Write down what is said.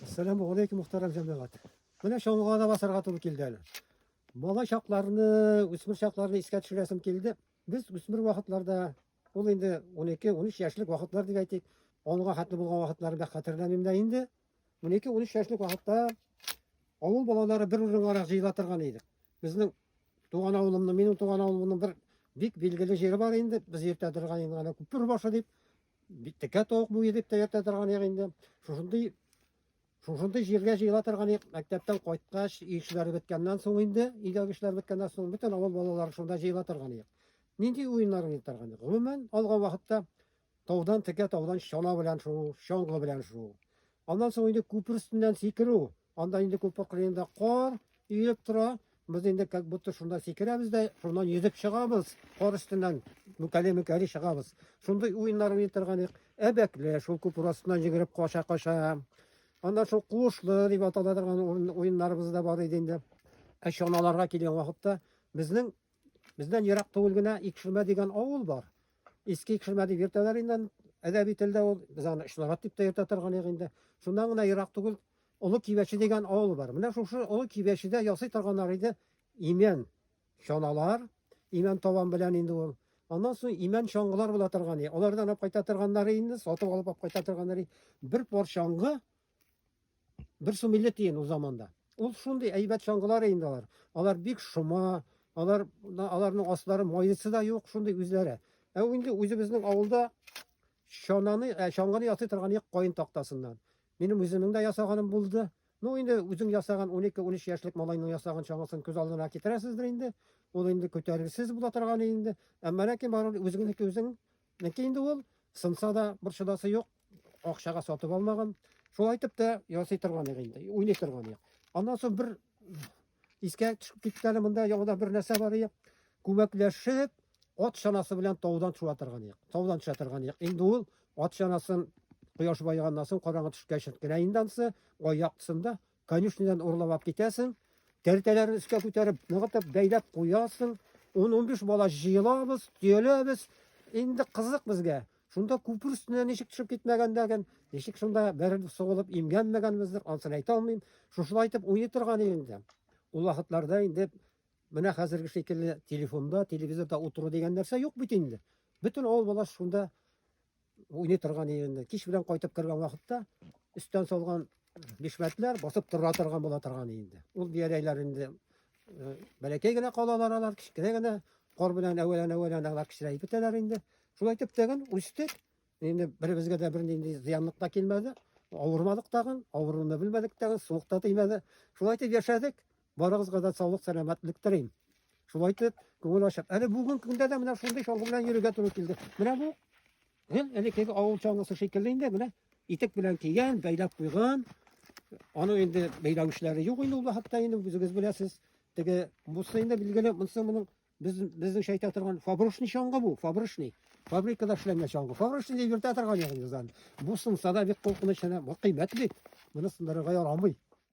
Әссәламу алейкум, мөхтәрәм җәмәгать. Менә чаңгыга да басарга туры килде әле. Бала чакларны, үсмер чакларны искә төшерәсем килде. Без үсмер вакытларда, ул инде 12-13 яшьлек вакытлар дип әйтик, онга хәтле булган вакытларны бик хәтерләмим дә инде. 12-13 яшьлек вакытта авыл балалары бер урынга җыела торган идек. Безнең туган авылымның, минем туган авылымның бер бик билгеле җире бар инде. Без иртә торган инде, күпер башы дип Бит текә тавык бу идек тә йөртә торган ек инде. Шушындый шушындый җиргә җыела торган ек. Мәктәптән кайткач, ил эшләре беткәннән соң инде, өйдәге эшләр беткәннән соң бөтен авыл балалары шунда җыела торган ек. Нинди уеннар уйный торган ек? Гомумән алган вакытта таудан текә таудан чана белән шуу, чаңгы белән шуу. Аннан соң инде күпер өстеннән сикерү, Анда инде күп кырында кар иелеп тора. Без инде как будто шунда сикерәбез дә, шуннан йөзеп чыгабыз, кар өстеннән мүкәле-мүкәле чыгабыз. Шундый уеннар уйный торган идек. Әбәкле, шул күп астыннан җигереп каша-каша. Аннан шул куышлы дип атала торган уеннарыбыз да бар иде инде. Ә чаналарга килгән вакытта безнең бездән ерак түгел генә Икшермә дигән авыл бар. Иске Икшермә дип йөртәләр инде әдәби телдә ул, без аны Ишнарат дип тә йөртә торган идек инде. Шуннан гына ерак түгел Олы Кибәче дигән авыл бар. Менә шушы Олы Кибәчедә ясый торганнар иде имән чаналар, имән табан белән инде ул. Аннан соң имән чаңгылар була торган иде. Алардан алып кайта торганнары инде, сатып алып алып кайта торганнары. Бер пар чаңгы бер сум 50 тиен ул заманда. Ул шундый әйбәт чаңгылар инде алар. Алар бик шома, алар аларның аслары майысы да юк, шундый үзләре. Ә инде үзебезнең авылда чананы, ә, чаңгыны ясый торган ек каен тактасыннан. Минем үземнең дә ясаганым булды. Ну инде үзең ясаган 12-13 яшьлек малайның ясаган чаңгысын күз алдына китерәсездер инде. Ул инде күтәрелсез була торган инде. Әмма ләкин барыбер үзеңнеке үзең ники инде ул сынса да бер чыдасы юк. Акчага сатып алмаган. Шулай итеп тә ясый торган инде, уйный торган. Аннан соң бер Искә төшеп киткәне монда яңадан бер нәрсә бар ия. Күмәкләшеп, ат чанасы белән таудан төшә торган ия. Таудан төшә торган ия. Инде ул ат чанасын кояш байыганнан соң караңгы төшкәч кенә инде ансы аяктысында конюшнядан урлап алып китәсең. Тәртәләрен өскә күтәреп, ныгытып, бәйләп куясың. 10-15 бала җыелабыз, төяләбез. Инде кызык безгә. Шунда күпер өстенә ничек төшеп китмәгәнлеген, ничек шунда бер сугылып имгәнмәгәнебезне ансын әйтә алмыйм. Шушылай итеп уйный торган инде. Ул вакытларда инде менә хәзерге шикелле телефонда, телевизорда утыру дигән нәрсә юк бит инде. Бөтен авыл баласы шунда уйный торган инде. Кич белән кайтып кергән вакытта өстән салган Бишмәтләр басып тора торган була торган инде. Ул бияләйләр инде э, бәләкәй генә калалар алар, кечкенә генә кар белән әвәлән-әвәлән алар кечерәеп бетәләр инде. Шулай итеп тәген үстек. Инде беребезгә дә бернинди зыянлык та килмәде. Авырмадык тагын, авыруны белмәдек тагын, суык та тимәде. Шулай итеп яшәдек. Барыгызга да саулык, сәламәтлек телим. Шулай итеп, күңел ачып. Әле бүгенге көндә дә менә шундый чаңгы белән йөрергә туры килде. Менә бу гел элеккеге авыл чаңгысы шикелле инде, менә итек белән кигән, бәйләп куйган. Аның инде бәйләү эшләре юк инде ул хакта инде үзегез беләсез. Теге бусы инде билгеле, монысы моның без безнеңчә әйтә торган фабричный чаңгы бу, фабричный. Фабрикада эшләнгән чаңгы. Фабричный дип йөртә торган ягын язан. Бу сынса да бик куркыныч, бу кыйммәт бит. Моны сындырырга ярамый.